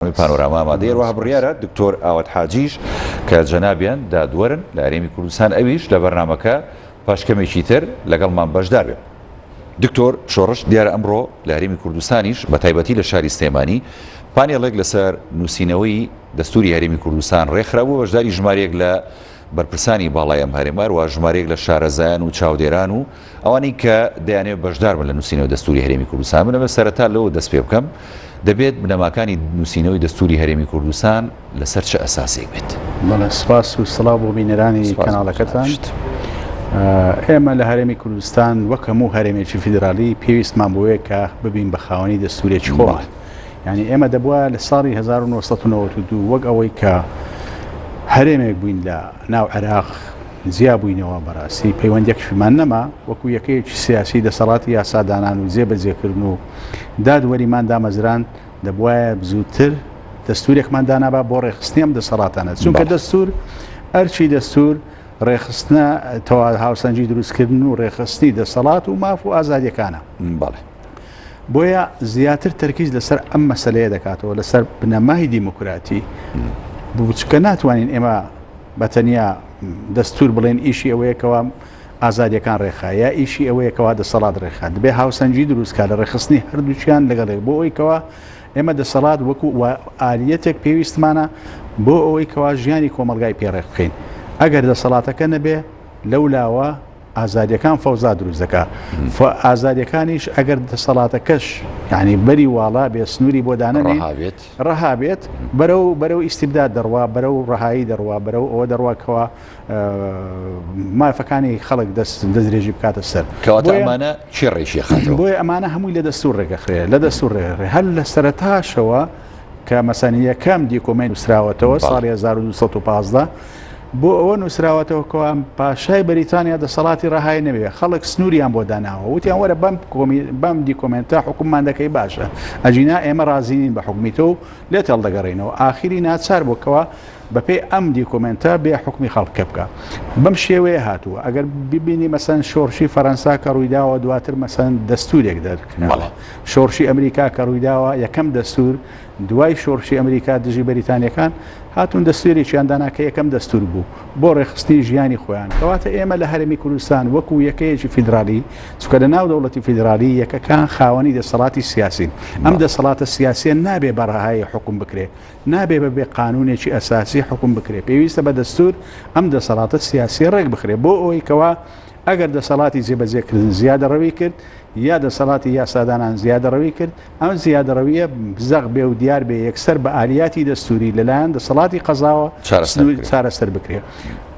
بەرنامەی پانۆراما ئامادەیە، هەروەها بڕیارە دکتۆر ئاوات حاجیش کە جەنابیان دادوەرن لە هەرێمی کوردستان ئەویش لە بەرنامەکە پاش کەمێکی تر لەگەڵمان بەشدار بێت. دکتۆر شۆڕش، دیارە ئەمڕۆ لە هەرێمی کوردستانیش بە تایبەتی لە شاری سلێمانی پانێڵێک لەسەر نووسینەوەی دەستووری هەرێمی کوردستان رێکخرابوو، بەشداری ژمارەیەک لە بەرپرسانی باڵای ئەم هەرێمە هەروەها ژمارەیەک لە شارەزایان و چاودێران و ئەوانەی کە دەیانەوێت بەشداربن لە نووسینەوەی دەستووری هەرێمی کوردستان من ئەمە سەرەتا لەوە دەست پێ بکەم دەبێت بنەماکانی نووسینەوەی دەستووری هەرێمی کوردستان لەسەر چ ئەساسێک بێت بەڵێ سپاس و سڵاو بۆ بینەرانی کەناڵەکەتان ئێمە لە هەرێمی کوردستان وەک هەموو هەرێمێکی فیدرالی پێویستمان بۆیە کە ببین بە خاوەنی دەستوورێکی خۆمان یعنی ئێمە دەبووە لە ساڵی 1992 وەک ئەوەی کە هەرێمێک بووین لە ناو عێراق جیا بووینەوە بەڕاستی پەیوەندێکشمان نەما وەکو یەکەیەکی سیاسی دەسەڵاتی یاسادانان و جێبەجێکردن و دادوەریمان دامەزران دەبواە بزووتر دەستورێکمان دانابا بۆ ڕێخستنیم دەسەڵاتانە چونکە دەستور ئەرچی دەستور ڕێخستە تەوا هاوسەنجی دروستکردن و ڕێخستنی دەسەڵات و ماف و ئازادیەکانە بەڵێ بۆیە زیاتر تەرکیز لەسەر ئەم مەسلەیە دەکاتەوە لەسەر بنەمای دیموکراتی بچکە ناتوانین ئێمە بەتەنیا دەستور بڵێن ئیشی ئەوەیەکەوە ئازادیەکان ڕێخا یا ئیشی ئەوەیەکەوە دەسەڵات ڕێخا دەبێ هاوسەنگی دروستکە لە ڕێخستنی هەردووچیان لەگەڵێک بۆ ئەویکەوە ئێمە دەسەڵات وەکو ئالیەتێک پێویستمانە بۆ ئەوەی کەوا ژیانی کۆمەلگای پێڕێخ بخین ئەگەر دەسەڵاتەکە نەبێ لەو لاوە ئازادیەکان فەوزا دروست دەکا ئازادیەکانیش ئەگەر دەسەڵاتەکەش یعنی بەری واڵا بێ سنووری بۆ دانەنێت ڕەها بێت بەرە و بەرە و ئیسیبدا دەڕوا بەرە و ڕەهایی دەڕوا بەرە و ئەوە دەڕواکەوە مافەکانی خەڵک دەست دەستێژی بکاتە سەر کەواتەمانە چێڕێکی خەن بۆی ئەمانە هەمووی لە دەستور ڕێگەخرێ لە دەستور ڕێ هەر لە سەرتاشەوە کە مەسەن یەکەم دیکۆمەی نووسراوەتەوە ساڵی 1950 بۆ ئەوە نووسراوەتەوە کەوام پاشای بەریتانیا دەسەڵاتی ڕەهای نەوێ خەڵک سنووریان بۆ داناوە وتیان وەرە بەم بەم دیکۆمنتە حکوممان دەکەی باشە ئەجینا ئێمە ڕازیین بە حکومیتە و لێ تێڵدەگەڕینەوە ئاخیری ناچار بۆکەوە بەپێی ئەم دیکۆمنتە بێ حکومی خەڵکە بکە بەم شێوەیە هاتووە ئەگەر ببینی مەسەن شۆڕشی فەەنسا کە ڕوویداوە دواتر مەسەن دەستورێک دەرکردەوە شۆڕشی ئەمریکا کە ڕوویداوە، یەکەم دەستوور دوای شۆڕشی ئەمریکا دژی بەریتانییەکان هاتوون دەستوورێکیان دانا کە یەکەم دەستوور بوو بۆ ڕێکخستنی ژیانی خۆیان، کەواتە ئێمە لە هەرێمی کوردستان وەکوو یەکەیەکی فیدرالی، چونکە لە ناو دەوڵەتی فیدرالی یەکەکان خاوەنی دەسەڵاتی سیاسین، ئەم دەسەڵاتە سیاسییە نابێ بە ڕەهایی حوکم بکرێ، نابێ بە بێ قانوونێکی ئەساسی حوکم بکرێ، پێویستە بە دەستوور ئەم دەسەڵاتە سیاسییە ڕێک بخرێ بۆ ئەوەی کەوا ئەگەر دەسەڵاتی جێبەجێکردن زیادەڕەوی کرد یا دەسەڵاتی یاسادانان زیادەڕەوی کرد، ئەم زیادەڕەوییە زەق بێ و دیار بێ یەکسەر بە ئالیاتی دەستووری لەلایەن دەسەڵاتی قەزاوە چارەسەر بکرێت.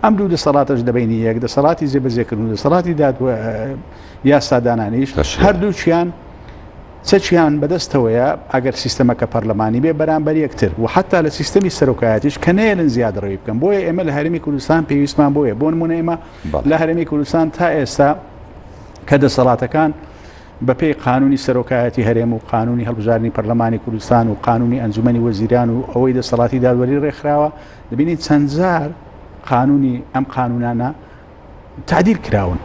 ئەم دوو دەسەڵاتەش لە بەینی یەک، دەسەڵاتی جێبەجێکردن و دەسەڵاتی یاسادانانیش هەردووکیان چەکیان بەدەستەوەیە ئەگەر سیستەمەکە پەرلەمانی بێ بەرامبەر یەکتر و حتا لە سیستەمی سەرۆکایەتیش کە نێلن زیادڕەوی بکەم بۆیە ئێمە لە هەرمی کوردستان پێویستمان بۆیە بۆن منێمە لە هەرێمی کوردستان تا ئێستا کە دەسەڵاتەکان بەپی قانونی سەرۆکایەتی هەرێم و قانونی هەڵبژارنی پەرلەمانی کوردستان و قانونی ئەنجومی وەزیران و ئەوەی دەسەڵاتی دادوەری ڕێکخراوە دەبینین چەندجار قانونی ئەم قانونانە تعدیل کراون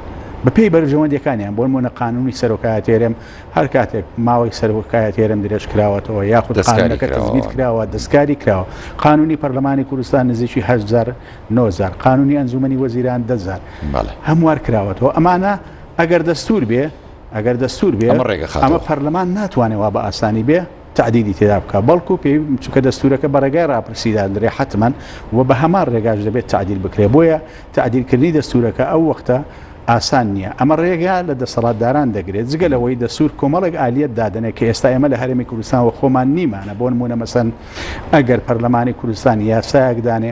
بەپی بەرژەوەندەکانیان بۆن مۆنە قانونی سەرۆکایە تێرم هەر کاتێک ماوەی سەرۆکایە تێرم درێژ کراوەتەوە یاخود دەستکاری کراوە دەستکاری کراوە قانونی پەرلەمانی کوردستان نزیکیهزار نۆ جار قانونی ئەنجومەنی وەزیران دە جار هەموار کراوەتەوە ئەمانە ئەگەر دەستور بێ ئەگەر دەستور بێ ئەمە پەرلەمان ناتوانێت وا بە ئاسانی بێ تعدیدی تێدا بکە بەڵکو پێی چکە دەستورەکە بە ڕێگای راپرسیداندرێ حتممەن و بە هەمان ڕێگاش دەبێت تعدیل بکرێ بۆیە تعدیلکردنی دەستورەکە ئەو وەختە ئاسان نییە ئەمە ڕێگا لە دەسەڵاتداران دەگرێت جگە لەوەی دەسوور کۆمەڵێک ئالیت دادنێت کە ئێستا ئێمە لە هەرمی کوردستان و خۆمان نیمانە بۆن مونە مەسەن ئەگەر پەرلەمانی کوردستان یاسایەکدانێ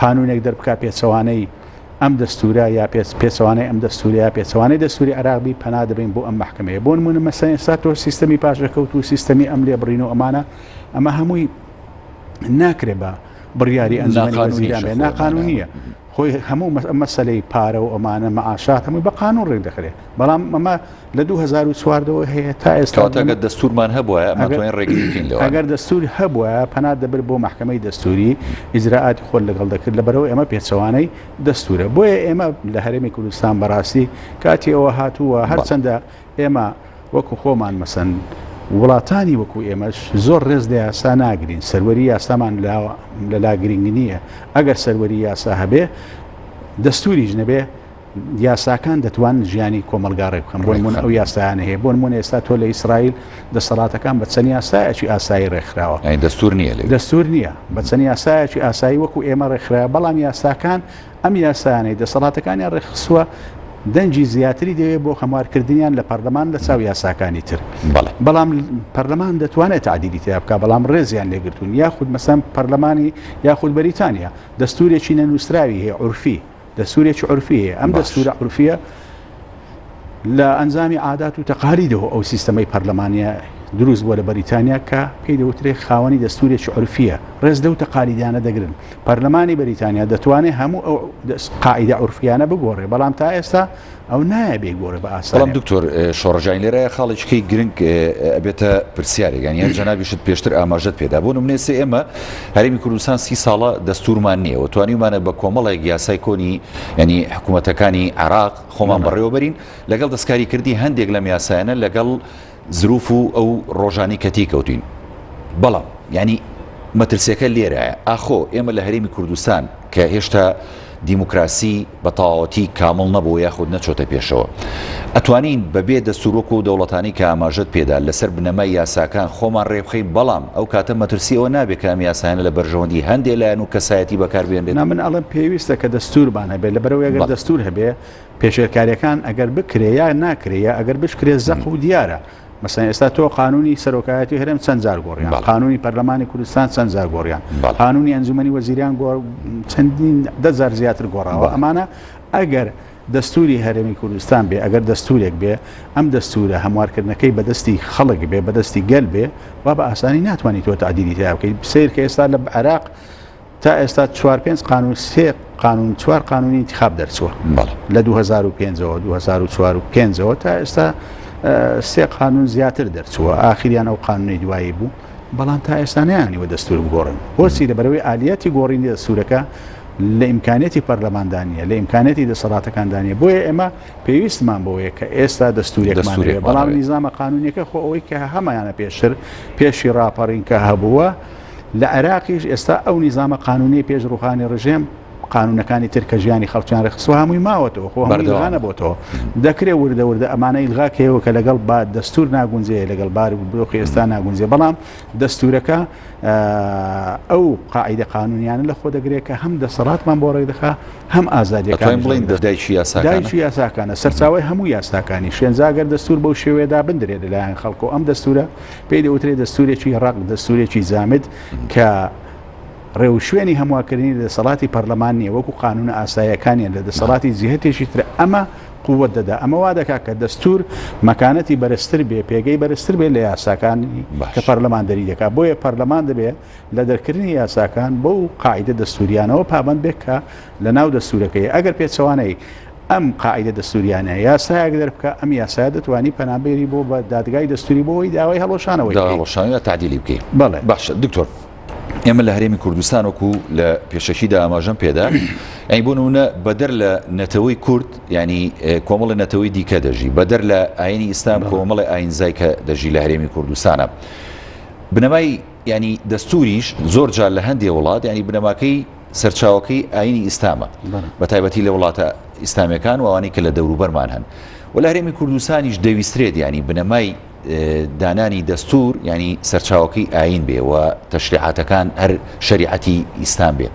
قانونێک دەربکا پێچەوانەی ئەم دەستورە یا پێچەوانەی ئەم دەستورە یا پێچەوانەی دەستوری عێراق بی پەنا دەبەین بۆ ئەم مەحکەمەیە بۆ نمونە مەسەن ئێستا تۆ سیستەمی پاشەکەوت و سیستەمی ئەم لێ بڕین و ئەمانە ئەمە هەمووی ناکرێ بە بڕیاری ئەنجامی وەزیران ناقانونیە خۆی هەموو مەسلەی پارە و ئەمانە مەعاشات هەمووی بە قانون ڕێک دەخرێت بەڵام ئەمە لە دوو هەزار و چوار دەوە هەیە تا ئێستا کەواتە گەر دەستورمان هەبوایە ئەگەر- ئەمەتوانین ڕێگری بکەین لەوان ئەگەر دەستور هەبوایە پەنا دەبرد بۆ مەحکەمەی دەستوری ئیجرائاتی خۆت لەگەڵ دەکرد لەبەرئەوەی ئەمە پێچەوانەی دەستورە بۆیە ئێمە لە هەرێمی کوردستان بەڕاستی کاتی ئەوە هاتووە هەرچەندە ئێمە وەکو خۆمان مەسەن وڵاتانی وەکو ئێمەش زۆر ڕێز لە یاسا ناگرین سەروەری یاسامان لا لەلا گرنگ نییە ئەگەر سەروەری یاسا هەبێ دەستوریش نەبێ یاساکان دەتوان ژیانی کۆمەلگا ڕێ بکەن بۆ نمونە ئەو یاسایانە هەیە بۆ نمونە ئێستا تۆ لە ئیسرائیل دەسەڵاتەکان بە چەند یاسایەکی ئاسایی ڕێکخراوە یعنی دەستور نییە لێ دەستور نییە بە چەند یاسایەکی ئاسایی وەکو ئێمە ڕێکخراوە بەڵام یاساکان ئەم یاسایانەی دەسەڵاتەکانیان ڕێکخسووە دەنگی زیاتری دەوێت بۆ هەموارکردنیان لە پەرلەمان لە چاو یاساکانی تر بەڵێ. بەڵام پەرلەمان دەتوانێت تعدیلی تیا بکە بەڵام ڕێزیان لێگرتوون یاخود مەسەم پەرلەمانی یاخود بەریتانیا دەستورێکی نەنووسراوی هەیە عورفی دەستورێکی عورفی هەیە ئەم دەستورە عورفیە لە ئەنجامی عادات و تەقالیدەوە ئەو سیستەمەی پەرلەمانە دروست بووە لە بەریتانیا کە پێی دەوترێ خاوەنی دەستورێکی عورفیە ڕێز لەو تەقالیدانە دەگرن پەرلەمانی بەریتانیا دەتوانێت هەموو ئەو قاعدە عورفیانە بگۆڕێ بەڵام تا ئێستا ئەو نایە بێ گۆڕێ بە ئاسان بەڵام دکتۆر شۆڕژین لێرایە خاڵێککەی گرنگ ئەبێتە پرسیارێکگەن یان جەنابیشت پێشتر ئاماژەت پێدا بۆ نمونێسێ ئێمە هەرمی کوردستان سی ساڵە دەستورمان نییە و توانیمانە بە کۆمەڵێک یاسای کۆنی ینی حکوومەتەکانی عراق خۆمان بەڕێوەبەرین لەگەڵ دەستکاریکردی هەندێک لەم یاسایانە لەگەڵ زروف و ئەو ڕۆژانەی کە تێیکەوتووین. بەڵام یانی مەترسیەکە لێرایە، ئاخۆ ئێمە لە هەرێمی کوردستان کە هێشتا دیموکراسی بە تەواوەتی کامڵ نەبووە یاخود نەچۆتە پێشەوە، ئەتوانین بەبێ دەستوور وەکو ئەو دەوڵەتانەی کە ئاماژەت پێدا لەسەر بنەمای یاساکان خۆمان ڕێبخەین، بەڵام ئەو کاتە مەترسی ئەوە نابێت کە ئەم یاسایانە لە بەرژەوەندی هەندێ لایەن و کەسایەتی بەکاربهێنرێت؟ نا من ئەڵێم پێویستە کە دەستوورمان هەبێت، لەبەرئەوەی ئەگەر دەستوور هەبێت، پێشێلکاریەکان ئەگەر بکرێ یا ناکرێ یا ئەگەر بشکرێ زەق و دیارە مەسەن ئێستا تۆ قانونی سەرۆکایەتی هەرێم چەند جار گۆڕیان قانونی پەرلەمانی کوردستان چەند جار گۆڕیان قانونی ئەنجومی وەزیریان گۆڕ چەندین دەزار زیاتر گۆڕاوە ئەمانە ئەگەر دەستوری هەرێمی کوردستان بێ ئەگەر دەستورێک بێ ئەم دەستورە هەموارکردنەکەی بەدەستی خەڵک بێ بەدەستی گەل بێ وا بە ئاسانی ناتوانانی تۆ تعدیلی تیا بکەیت سیر کە ئێستا لە عراق تا ئێستا چوار پێنج قانون سێ قانون چوار قانونی انتخاب دەرچووە لە 2005ەوە 2004ەوە تا ئێستا سێ قانون زیاتر دەرچووە ئاخریان ئەو قانونی دوایی بوو بەڵام تا ئێستانیانیوە دەستور بگۆڕن بۆچی لەبەرەوەی ئالیەتی گۆڕینی دەستورەکە لە ئیمکانەتی پەرلەماندانە لە ئیمکانەتی دەسەڵاتەکاندانە بۆیە ئێمە پێویستمان بۆیە کە ئێستا دەستورێکمان بەڵام نیزانامە قانونیەکە خۆ ئەوەی کە هەمایانە پێشتر پێشی راپەڕین کە هەبووە لە عێراقیش ئێستا ئەو نیزانە قانونی پێش ڕوخانی ڕژێم قانونەکانی تر کە ژیانی خەڵکیان ڕێخسو هەمووی ماوەتەوە خۆ هەردوانە بۆتەوە دەکرێت وردە وردە ئەمانە ئیلغاکەەوە کە لەگەڵ با دەستور ناگونجێ لەگەڵ بار و بدۆخی ئێستا ناگونجێ بەڵام دەستورەکە ئەو قاعدە قانونیانە لە خۆ دەگرێت کە هەم دەسەڵاتمان بۆ ڕێک دەخا هەم ئازادیەکان بڵین دەدایکی یاساکانشی یاساکانە سەرچاوی هەموو یاساکانی شوێنجاگەر دەستور بەو شێوێدا بندرێت لەلایەن خەڵکۆ ئەم دەستورە پێی دەوترێت دەستورێکی ڕق دەستورێکی جامد کە ڕێو شوێنی هەمواکردنی دەسەڵاتی پەرلەمان نیە وەکو قانون ئاسایەکانیان لە دەسەڵاتی جیهتێکی تر ئەمە قووە دەدا ئەمە وا دەکات کە دەستور مەکانەتی بەرزتر بێ پێگەی بەرزتر بێ لە یاساکانی کە پەرلەمان دەری دەکات بۆیە پەرلەمان دەبێت لە دەرکردنی یاساکان بەو قاعیدە دەستوریانەوە پابەند بێت کە لە ناو دەستورەکەی ئەگەر پێچەوانەی ئەم قاعیدە دەستوریانە یاسایەک دەربکە ئەم یاسایە دەتوانی پەنابێری بۆ بە دادگای دەستوری بۆەوەی داوای هەڵۆشانەوەی دا داوای هەڵۆشانی یا تعدیلی بکەی بەڵێ باشە دکتۆر ئێمە لە هەرێمی کوردستان وەکو لە پێشەکیدا ئاماژەم پێدا ئەی بۆ نمونە بەدەر لە نەتەوەی کورد ینی کۆمەڵی نەتەوەی دیکە دەژی بەدەر لە ئاینی ئیسلام بەڵێ. کۆمەڵی ئاینزای کە دەژی لە هەرێمی کوردستانە بنەمای یانی دەستووریش زۆر جار لە هەندێ وڵات ینی بنەماکەی سەرچاوەکەی ئاینی ئیسلامە بە تایبەتی لە وڵاتە ئیسلامیەکان وانەی کە لە دەوروبەرمان هەن و لە هەرێمی کوردستانیش دەویسترێت ینی بنەمای دانانی دەستور ینی سەرچاوەکەی ئاین بێ و تەشریعاتەکان هەر شریعەتی ئیسلام بێ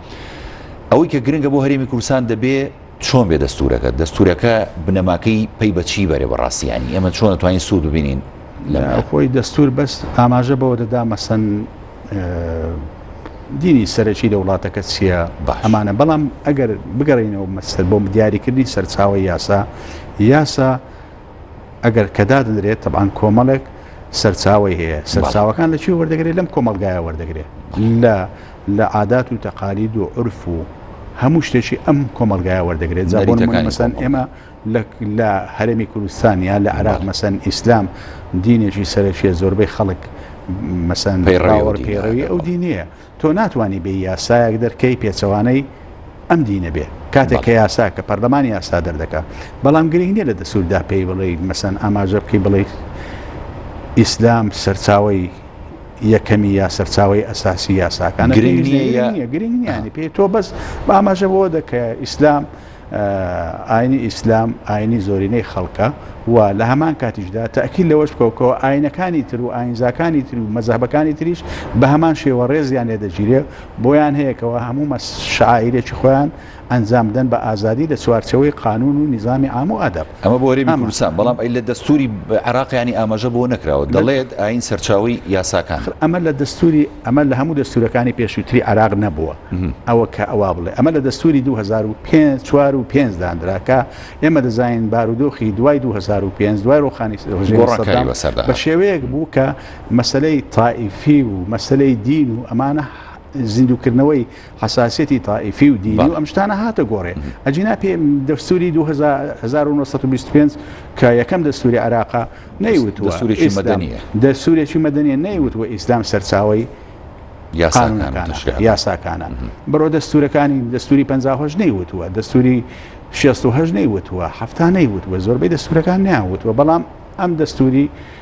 ئەوەی کە گرنگە بۆ هەرێمی کوردستان دەبێ چۆن بێ دەستورەکە دەستورەکە بنەماکەی پەی بە چی بەرێ بەڕاستیانی ئێمە چۆن توانین سوود ببینین لە خۆی دەستور بەس ئاماژە بەوە دەدا مەسەن دینی سەرەکی لە وڵاتەکە چییە ئەمانە بەڵام ئەگەر بگەڕینەوە مەسەر بۆ دیاریکردنی سەرچاوی یاسا یاسا ئەگەر کە دادەنرێت تەبان کۆمەڵێک سەرچاوی هەیە سەرچاوەکان لە چی وەردەگرێت لەم کۆمەلگایە وەردەگرێت لە لە عادات و تەقالید و عرف و هەموو شتێکی ئەم کۆمەلگایە وەردەگرێت جاڕیەکان مەسەن ئێمە لە هەرێمی کوردستانیا لە عراق مەسەن ئیسلام دینێکی سەرەکیە زۆربەی خەڵک مەسەن پێڕاوەڕ پێڕەوی ئەو دینیە تۆ ناتوانی بێی یاسایەک دەرکەی پێچەوانەی ئەم دینە بێ کاتێک کە یاسا کە پەرلەمان یاسا دەردەکا بەڵام گرنگ نیە لە دەسووردا پێی بڵێ مەسەن ئاماژە بکەی بڵێ ئیسلام سەرچاوی یەکەمی یا سەرچاوی ئەساسی یاساکان گرنگ گرنگیانی پێ تۆ بەس باماژە بۆ دەکە ئیسلام ئاینی ئیسلام ئاینی زۆرینەی خەڵکە و لە هەمان کاتیشدا تاکیل لەوەش بکەوکەوە ئاینەکانی تر و ئاینزاکانی تر و مەزەبەکانی تریش بە هەمان شێوە ڕێزیان لێ دەگیرێ بۆیان هەیەکەوە هەموو مە شاعیرێکی خۆیان ئەنجامدەن بە ئازادی لە چوارچەوەی قانون و نظامی ئام و ئەدەب ئەمە بۆ هەرێمی کوردستان بەڵام ئەی لە دەستوری عراقیانی ئاماژە بۆ نەکراوە دەڵێت ئاین سەرچاوی یاساکان ئەمە لە دەستوری ئەمە لە هەموو دەستوورەکانی پێشووتری عێراق نەبووە ئەوە کە ئەوا بڵێ ئەمە لە دەستووری دوو هەزار و پێنج چوار و پێنج دانرا کە ئێمە دەزانین بارودۆخی دوای دوو هەزار و پێنج دوای ڕوخانی ڕژێمی سەدام گۆڕانکاری بەسەردا بە هات شێوەیەک بوو کە مەسەلەی تائیفی و مەسەلەی دین و ئەمانە زیندووکردنەوەی حەساسیەتی تائیفی و دینی و ئەم شتانە هاتە گۆڕێ. ئەگینا پێ دەستوری دوو هەزار و نۆ سەد و بیست و پێنج کە یەکەم دەستوری عێراقە نەیوتوە دەستورێکی مەدەنیە. دەستورێکی مەدەنیە نەیوتوە ئیسلام سەرچاوەی قانونەکانە، یاساکانە. بڕۆ دەستورەکانی دەستوری پەنجا و هەشت نەیوتوە، دەستوری شێست و هەشت نەیوتوە، حەفتا نەیوتوە، زۆربەی دەستورەکان نەیانوتوە، بەڵام ئەم دەستوری،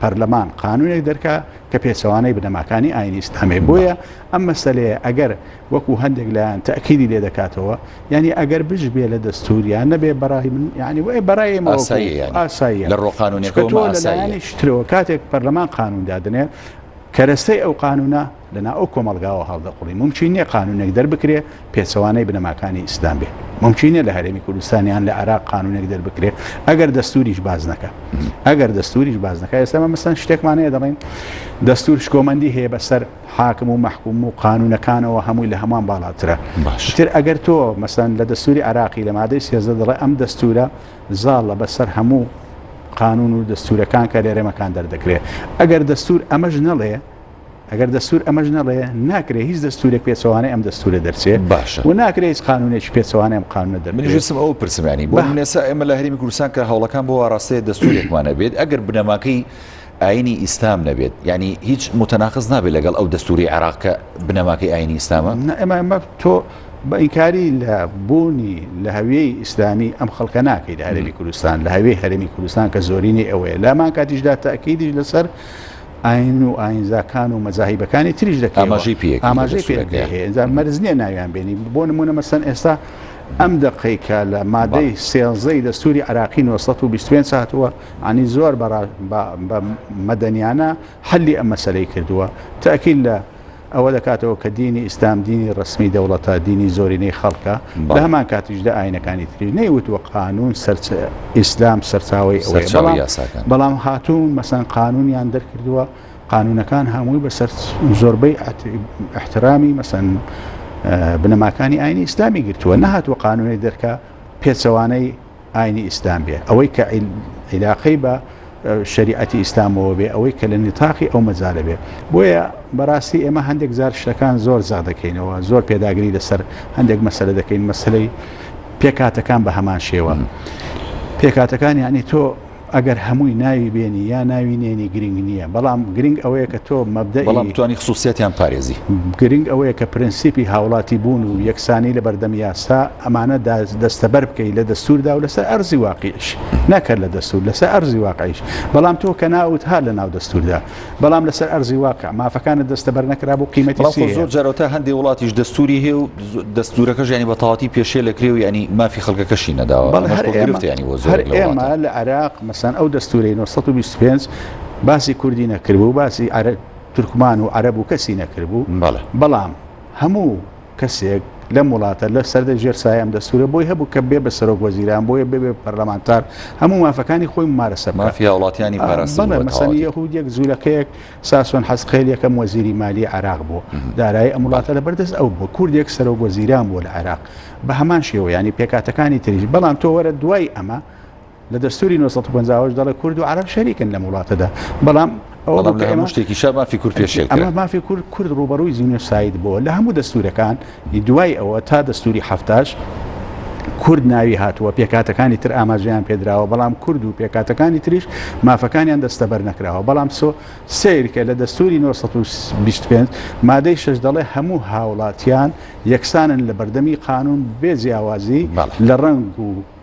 پەرلەمان قانونێک دەرکا کە پێچەوانەی بنەماکانی ئاینی ئیسلامێ بۆیە ئەم مەسلەیە ئەگەر وەکو هەندێک لایەن تاکیدی لێ دەکاتەوە یعنی ئەگەر بش بێ لە دەستوریان نەبێ بەڕای من یعنی وێ بەڕای ئاسایی لە ڕۆقانونەکەتەوە لەلایەنی شترەوە کاتێک پەرلەمان قانون دادنێ کەرەستەی ئەو قانونە لە ناو ئەو کۆمەڵگاوە هەڵدەقوڵی، مومکین نیە قانونێک دەربکرێ پێچەوانەی بنەماکانی ئیسلام بێ، مومکین نیە لە هەرێمی کوردستان یان لە عێراق قانونێک دەربکرێ ئەگەر دەستوریش باس نەکا، ئەگەر دەستوریش باس نەکا، ئێستا مە مەسەن شتێکمان هەیە دەڵێن دەستور شکۆمەندی هەیە بەسەر حاکم و مەحکوم و قانونەکانەوە هەمووی لە هەمووان باڵاترە باش تر ئەگەر تۆ مەسەن لە دەستوری عراقی لە مادەی سێزدە دەڵێ ئەم دەستورە زاڵە بەسەر هەموو قانون و دەستورەکان کە لێرەمەکان دەردەکرێت ئەگەر دەستور ئەمەش نەڵێ ئەگەر دەستور ئەمەش نەڵێ ناکرێ هیچ دەستورێک پێچەوانەی ئەم دەستورە دەرچێت باشە و ناکرێ هیچ قانونێکی پێچەوانە ئەم قانونە دەر منیژسم ئەو پرسمانی بۆ نێسا ئێمە لە هەرمی کوردستان کە هەوڵەکان بۆ ئاراستەیە دەستورێکمانە بێت ئەگەر بنەماکەی ئاینی ئیسلام نەبێت ینی هیچ متەناقز نابێت لەگەڵ ئەو دەستوری عراق کە بنەماکەی ئاینی ئیسلامە ئەمە ئەمە تۆ بە ئینکاری لە بوونی لە هەویەی ئیسلامی ئەم خەڵکە ناکەیت هەرمی کوردستان لە هەوێ هەرمی کوردستان کە زۆرینەی ئەوەیە لامان کاتیشدا تاکیدیش لەسەر ئاین و ئاینزاکان و مەزاهیبەکانی تریش دەکەی ئاماژەی پێ هەیە ئەجا مەرز نییە ناویان بێنی بۆ نمونە مەسەن ئێستا ئەم دەقیکە لە مادەی سێزەی دەستوری عراقی 1920 ساعتوە ئەنی زۆر بە مەدەنیانە حلی ئەم مەسلەی کردووە تاکیل لە ئەوە دەکاتەوە کە دینی ئیسلام دینی ڕەسمی دەوڵەتە، دینی زۆرینەی خەڵکە، لە هەمان کاتیشدا ئاینەکانی تری نەیوتووە قانون ئیسلام سەرچاوەی ئەوەیە، بەڵام هاتوون مەسەن قانونیان دەرکردووە، قانونەکان هەمووی بەسەر زۆربەی احترامی مەسەن بنەماکانی ئاینی ئیسلامی گرتووە، نەهاتووە قانونی دەرکە پێچەوانەی ئاینی ئیسلام بێ، ئەوەی کە عیلاقەی بە شەریعەتی ئیسلامەوە بێ، ئەوەی کە لە نیتاقی ئەو مەجالە بێ. بۆیە بەڕاستی ئێمە هەندێک جار شتەکان زۆر زەق دەکەینەوە، زۆر پێداگری لەسەر هەندێک مەسەلە دەکەین، مەسەلەی پێکاتەکان بە هەمان شێوە. پێکاتەکان یعنی تۆ ئەگەر هەمووی ناوی بێنی یا ناوی نێنی گرنگ نییە بەڵام گرنگ ئەوەیە کە تۆ مەبدە بەڵام بتانی خصوصیتیان پارێزی گرنگ ئەوەیە کە پرەنسیپی هاوڵاتی بوون و یەکسانی لە بەردەم یاسا ئەمانە دەستەبەر بکەی لە دەستوردا و لەسەر ئەرزی واقیش نەکەر لە دەستور لەسەر ئەرزی واقعیش بەڵام تۆ کە ناوت هات لە ناو دەستوردا بەڵام لەسەر ئەرزی واقع مافەکانت دەستەبەر نەکرا بۆ قیمەتی بەڵام خۆ سیە زۆر جارەوەتا هەندێک وڵاتیش دەستوری هەیە و ز- دەستورەکەش ینی بە تەواتی پێشێ لە کرێ و ینی مافی خەڵکەکەشی نەداوە بەڵێ ئەمەش هەر خۆ ئێمە گرفتە ینی بۆ زۆر هەر لە ئێمە وڵاتان لە عێراق مەسەن ئەو دەستورەی 925 باسی کوردی نەکردبوو باسی عەرە تورکمان و عەرەب و کەسی نەکردبوو بەڵێ بەڵام هەموو کەسێک لەم وڵاتە لە سەردە ژێر سایە ئەم دەستورە بۆی هەبوو کە بێ بە سەرۆک وەزیران بۆیە ببێ پەرلەمانتار هەموو مافەکانی خۆی ممارەسە بکات مافی هاوڵاتیانی پاراستبوو بەڵێ بە مەسەنی تەواوەتی یەهودیەک زورەکەیەک ساسۆن حەزقێل یەکەم وەزیری مالی عێراق بوو دارایی ئەم وڵاتە لە بەردەست ئەو بوو کوردێک سەرۆک وەزیران بووە لە عێراق بە هەمان شێوە یانی پێکهاتەکانی تریش بەڵام تۆ وەرە دوای ئەمە لە دەستوری نۆ سەد و پەنجا و هەشت دەڵێ کورد و عەرەب شەریکن لەم وڵاتەدا بەڵام ئەوە بەڵام لە بکە ئێمە هەموو شتێکی شا مافی کورد پێشێل ئەمە کرا مافی کورد کورد ڕوبەڕووی جینۆساید بۆ لە هەموو دەستورەکان دوای ئەوە تا دەستوری هەفتاش کورد ناوی هاتووە پێکاتەکانی تر ئاماژەیان پێدراوە بەڵام کورد و پێکاتەکانی تریش مافەکانیان دەستەبەر نەکراوە بەڵام سۆ سیرکە لە دەستوری 1925 مادەی شش دەڵێ هەموو هاوڵاتیان یەکسانن لە بەردەمی قانون بێ جیاوازی بەڵێ. لە ڕەنگ و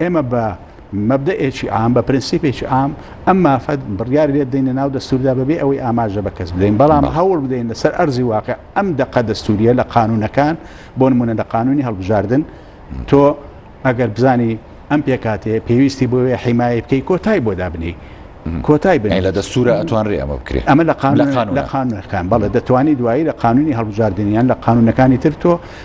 ئێمە بە مەبدەئێکی عام، بە پرنسیپێکی عام ئەم مافە بڕیاری لێ بدەین لە ناو دەستووردا بە بێ ئەوەی ئاماژە بە کەس بدەین، بەڵام هەوڵ بدەین لە سەر ئەرزی واقیع ئەم دەقە دەستوورییە لە قانوونەکان، بۆ نموونە لە قانوونی هەڵبژاردن، تۆ ئەگەر بزانی ئەم پێکهاتەیە پێویستی بۆ وێ حیمایەی بکەی کۆتای بۆ دابنێی. کۆتای بنێی. لە دەستوورا ئەتوانرێ ئەمە بکرێ. ئەمە لە قانوون لە قانوونەکان بەڵێ دەتوانی دوایی لە قانوونی هەڵبژاردن یان لە قانوونەکانی تر تۆ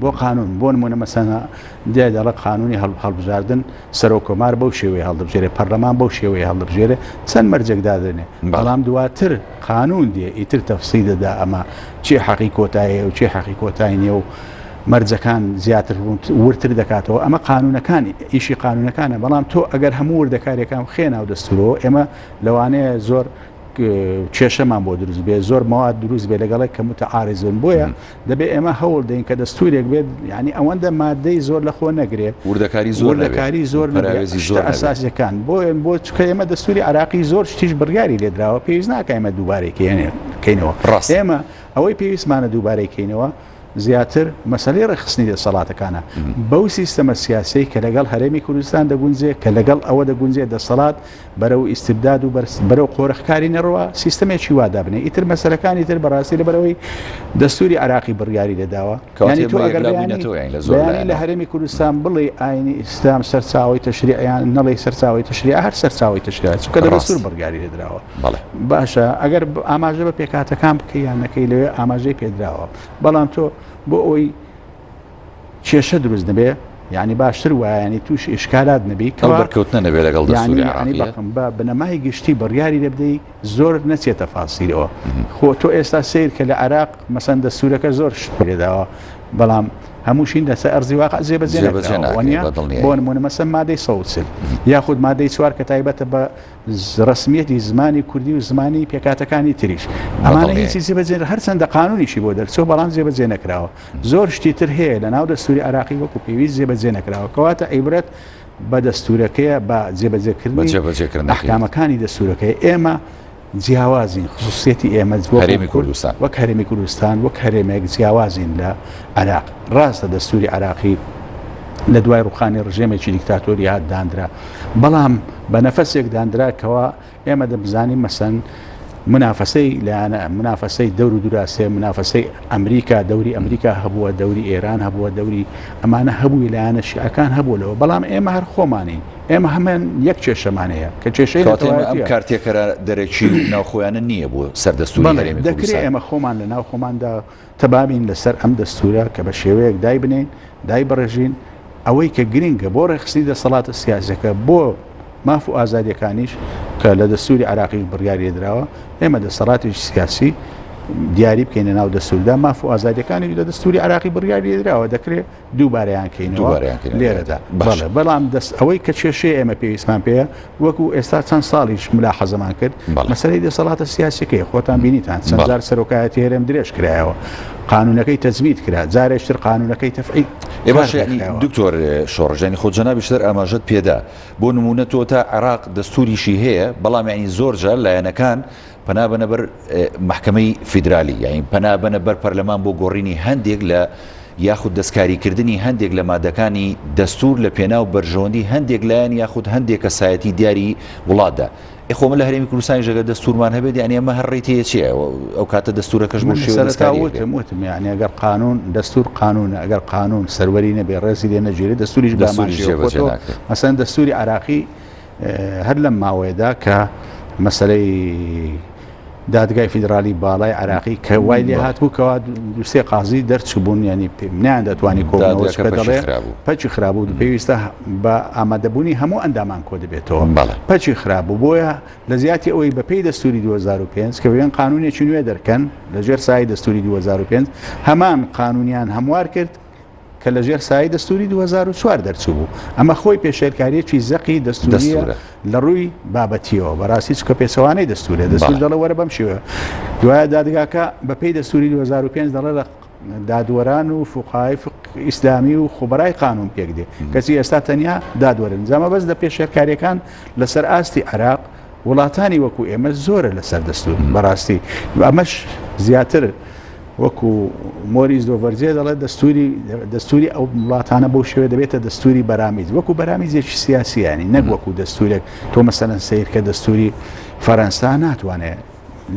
بۆ قانون بۆ نمونە مەسەنا دای دەڵە قانونی هەڵبژاردن سەرۆ کۆمار بەو شێوەی هەڵدەبژێرێ پەرلەمان بەو شێوەی هەڵدەبژێرێ چەند مەرجێک دادێنێ بەڵام دواتر قانون دێ ئیتر تەفسی دەدا ئەمە چی حەقی کۆتایە و چی حەقی کۆتای نیە و مەرجەکان زیاتر ورتر دەکاتەوە ئەمە قانونەکان ئیشی قانونەکانە بەڵام تۆ ئەگەر هەموو وردەکارێکان خێ ناو دەستورەوە ئێمە لەوانەیە زۆر کێشەمان بۆ دروست بێ زۆر مواد دروست بێ لەگەڵێک کە متعاارزون بۆیە دەبێت ئێمە هەوڵ دەین کە دەستوورێک بێت یعنی ئەوەندە مادەی زۆر لە خۆ نەگرێت وردەکاری زۆر لەکاری زۆر نەراوێزی زۆر ئەساسەکان بۆ ئێن بۆ چکە ئێمە دەستوری عراقی زۆر شتیش بڕیاری لێدراوە پێویست ناکەمە دووبارێکێنێ کەینەوە ڕاست ئێمە ئەوەی پێویستمانە دووبارەکەینەوە زیاتر مەسلەی ڕێخستنی دەسەڵاتەکانە بەو سیستەمە سیاسی کە لەگەڵ هەرێمی کوردستان دەگونجێ کە لەگەڵ ئەوە دەگونجێ دەسەڵات بەرەو ئیستبداد و بەرەو قۆرخکاری نەڕوا سیستەمێکی وا دابنێ ئیتر مەسەلەکانی تر بەڕاستی لەبەرەوەی دەستوری عراقی بڕیاری دەداوە کەوانی تو ئەگەر لە هەرێمی کوردستان بڵێ ئاینی ئیسلام سەرچاوی تەشریعیان نەڵی سەرچاوی تەشریع هەر سەرچاوی تەشریع چکە دەستور بڕیاری دەدراوە باشە ئەگەر ئاماژە بە پێکاتەکان بکەیانەکەی لەوێ ئاماژەی پێدراوە بەڵام تۆ بۆ ئەوی کێشە دروست نەبێ یعنی باشتر وایانی تووش ئشکالات نەبی کەوەکەوتنە نەبێ لەگەڵ دەستوریم بە بنەمای گشتی بڕیاری لەبدەی زۆر نەچێتە فاسیرەوە خۆ تۆ ئێستا سیر کە لە عراق مەسەن دەستورەکە زۆر شت پێداوە بەڵام هەمووشین لەسەر ئەرزی واقع جێبەجێنەوەنیە بۆن منە مەسە مادەی سەوسل یاخود مادەی چوار کە تایبەتە بە ڕسمیەتی زمانی کوردی و زمانی پێکاتەکانی تریش ئەمانە هیچی جێبەجێن هەرچەندە قانونیشی بۆ دەرچەوە بەڵام جێبەجێ نەکراوە زۆر شتی تر هەیە لە ناو دەستوری عێراقی وەکو پێویست جێبەجێ نەکراوە کەواتە ئەیبرێت بە دەستورەکەیە بە جێبەجێکردنی ئەحکامەکانی دەستورەکەی ئێمە جیاوازین خصوصیەتی ئێمە هەرێمی کوردستان وەک هەرێمی کوردستان وەک هەرێمێک جیاوازین لە عراق ڕاستە دەستوری عراقی لە دوای ڕوخانی ڕژێمێکی دیکتاتۆری هات دانرا بەڵام بە نەفەسێک دانراکەوە ئێمە دەبزانین مەسەن منافەسەی لایەنە منافەسەی دەور و دراستێ منافەسەی ئەمریکا دەوری ئەمریکا هەبووە دەوری ئێران هەبووە دەوری ئەمانە هەبووی لایەنە شیعەکان هەبوو لەوە بەڵام ئێمە هەر خۆمانین ئێمە هەمان یەک کێشەمانەیە کە کێشەی ئەم کارتێکەرە دەرەکی ناوخۆیانە نییە بۆ سەردەستوری دەکرێت ئێمە خۆمان لە ناو خۆماندا تەبابین لەسەر ئەم دەستوورە کە بە شێوەیەک دایبنێین، دایبڕێژین، ئەوەی کە گرنگە بۆ ڕێکخستنی دەسەڵاتە سیاسییەکە، بۆ ماف و ئازادییەکانیش کە لە دەستووری عێراقیش بڕیاری لێ دراوە، ئێمە دەسەڵاتێکی سیاسی دیاری بکەین لەناو دەستووردا، ماف و ئازادییەکانیش لە دەستووری عێراقی بڕیاری لێ دراوە، دەکرێ. دووبارەیان کەینەوە لێرەدا باشە بەڵام دەست ئەوەی کە کێشەیە ئێمە پێویستمان پێەیە وەکو ئێستا چەند ساڵیش ملا حەزەمان کرد مەسەری دەسەڵاتە سیاسەکەی خۆتان بینیتان چەندجار سەرۆکایەتی هێرم درێژ کرایەوە قانونەکەی تەزمیت کرا جارێشتر قانونەکەی تەفعی دکتۆر شۆڕژانی خۆ جەنابیشتر ئاماژەت پێدا بۆ نمونە تۆ تا عراق دەستوریشی هەیە بەڵام ینی زۆرجار لایەنەکان پەنابەنە بەر مەحکەمەی فیدرالی یاین پەنابەنە بەر پەرلەمان بۆ گۆڕینی هەندێک لە یاخود دەستکاریکردنی هەندێک لە مادەکانی دەستور لە پێناو بەرژەوەندی هەندێک لایەن یاخود هەندێک کەسایەتی دیاری وڵاتدا ئێخۆ من لە هەرێمی کوردستانی ژەگە دەستورمان هەبێت یانی ئەمە هەر ڕێتی چیە ئەو کاتە دەستورەکەش من سەرتاوتم وتم یعنی ئەگەر قانون دەستور قانونە ئەگەر قانون سەروەری نەبێ ڕێزی لێ نەگیرێت دەستوریش بەمانژێ مەسەن دەستوری عراقی هەر لەم ماوەیەدا کە مەسەرەی دادگای فیدراالی باڵای عراقی کە وای لێ هات بوو کەوا دوسێ قازی دەرچبوون ینی پێمنیان دەتوانانی کۆڵەوەڵێ پەچی خرابوو پێویستە بە ئامادەبوونی هەموو ئەندامان کۆ دەبێتەوە بەڵێ پەچی خرابوو بۆیە لە زیاتی ئەوەی بەپی دەستوری 2005 کە وێن قانونێکی نوێ دەرکەن لەژێر سای دەستوری 2005 هەمان قانونیان هەموار کرد کە لە ژێر سای دەستوری 2004 دەرچوو بوو ئەمە خۆی پێشێلکاریەکی زەقی دەستورە لە ڕووی بابەتیەوە بەڕاستی چکە پێچەوانەی دەستورێ دەستور دەڵە وەرە بەم شێوە دوایە دادگاکە بەپی دەستوری 2005 دەڵێ لە دادوەران و فقای ئیسلامی و خۆبەرای قانون پێک دێ کەسی ئێستا تەنیا دادوەرن جامە بەس لە پێشێلکاریەکان لەسەر ئاستی عراق وڵاتانی وەکو ئێمە زۆرە لەسەر دەستور بەڕاستی ئەمەش زیاتر وەکو مۆری زۆڤەرجێ دەڵێت دەستوری دەستوری ئەو وڵاتانە بۆ شوێ دەبێتە دەستوری بەرامیز وەکو بەرامیزێکی سیاسیانی نەک وەکو دەستورێک تۆ مەسەەن سیر کە دەستوری فەرەنسا ناتوانێت